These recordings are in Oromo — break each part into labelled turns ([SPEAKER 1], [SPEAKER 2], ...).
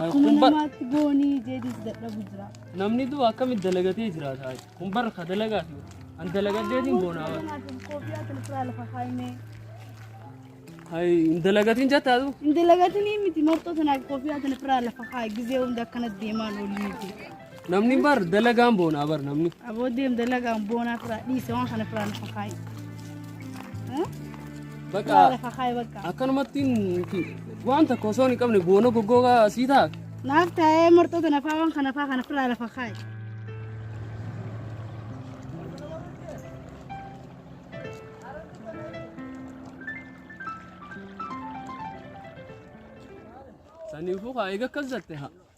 [SPEAKER 1] Akkuma namaatti boonii jeedis dadhabu jira. Namni du'u akkamitti
[SPEAKER 2] dalagatee jiraata? Kun bara ka dalagaa fi an dalagaddeetiin boonaa bara. Koofiyaa kan
[SPEAKER 1] firaa lafa kaa'imee.
[SPEAKER 2] Hayi hin dalagatiin jettaa du'u. Hin dalagatinii miti
[SPEAKER 1] marxoo tanaaf koofiyaa kan firaa lafa kaa'i gizee hunda akkanas deemaan olii jechuudha. Namni bar
[SPEAKER 2] dalagaan boonaa bar namni. Aboo deem dalagaan
[SPEAKER 1] boonaa firaa dhiise waan kana firaa lafa kaayi.
[SPEAKER 2] Bakka Lafa kaayi bakka.
[SPEAKER 1] akkanumatti nuti
[SPEAKER 2] waan tokko osoo hin qabne boona goggoogaa asii ta'a. Naaf taa'ee
[SPEAKER 1] marxoota nafaa waan kana faa kana firaa lafa kaayi.
[SPEAKER 2] Saniifuu kaa eega akkas jatte haa.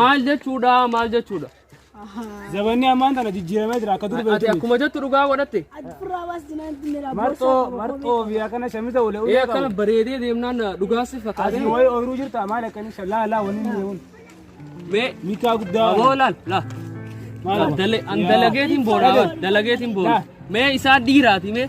[SPEAKER 2] Maal jechuudha maal jechuudha.
[SPEAKER 3] Zabanni ammaan tana jijjiiramee jira akka dur Ati beektu. akkuma jettu dhugaa
[SPEAKER 2] godhatte. Marxoo
[SPEAKER 3] marxoo fi akkana shamisa wale Ee ulee akkana qabu. bareedee
[SPEAKER 2] deemnaan dhugaa si Asii fakkaate. wayii ooyiruu jirta maal
[SPEAKER 3] akkanii shalaa laa wanni hin deemuun. Mee
[SPEAKER 2] Mikaa guddaa.
[SPEAKER 3] aboo laal laal.
[SPEAKER 2] Maal Laal, dale- an dalageetiin boona laal, dalageetiin boona. Laal. Mee isaa dhiiraati mee.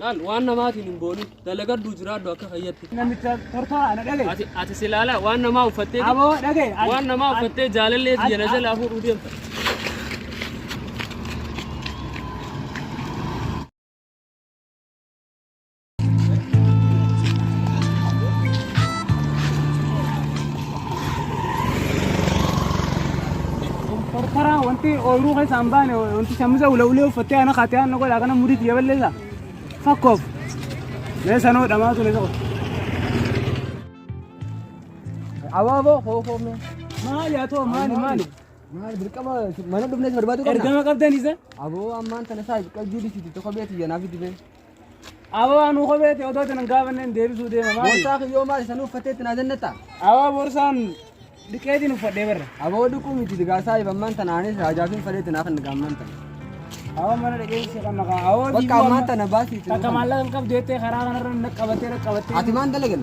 [SPEAKER 3] Laal waan namaatiin
[SPEAKER 2] hin boonin dalagadhu jiraadhu akka fayyatti. Namicha tortoraa
[SPEAKER 3] ana dhagaye. Ati ati silaala waan
[SPEAKER 2] namaa uffattee Aboo dhagaye. ati- waan
[SPEAKER 3] namaa ati- uffattee
[SPEAKER 2] jaalallee ati- biyya na jalaa fuudhuu deemta.
[SPEAKER 3] Karaa wanti ooyiruu keessa hin baane wanti shamuza ula ulee uffattee ana kaatee ana godha kana murii xiyya balleessa. Fakkoof. Mee sanoo dhamaa ture tokko.
[SPEAKER 4] Abaaboo kookoo mee. Maali haa
[SPEAKER 3] ta'u maali maali. Maal dirqama
[SPEAKER 4] mana dhufnees barbaadu qabna. Ergama qabdan isa.
[SPEAKER 3] Aboo ammaan tana
[SPEAKER 4] isaa qalbii disiitu tokko beetii janaaf dibee. Ababaa
[SPEAKER 3] nuu kopheeti odoo isin hin gaafanneen deebisuu deema maali? Boorsaa kiyyoo maal isa nuuf
[SPEAKER 4] fatteetti naa jannata? Abaa boorsaan
[SPEAKER 3] dhiqeetiin uffadhee barra. Aboo dhiquu miti
[SPEAKER 4] digaasaa ibammaan tana anis raajaafiin faleetti naa kan gaammaan tana. Abaa mana
[SPEAKER 3] dhaqee si kan naqaa. Abaa Bakka ammaan tana baasii
[SPEAKER 4] itti Takka nuuf maallaqa hin qabdu jettee
[SPEAKER 3] karaa kanarra na qabattee na qabattee. Ati maan dalagan?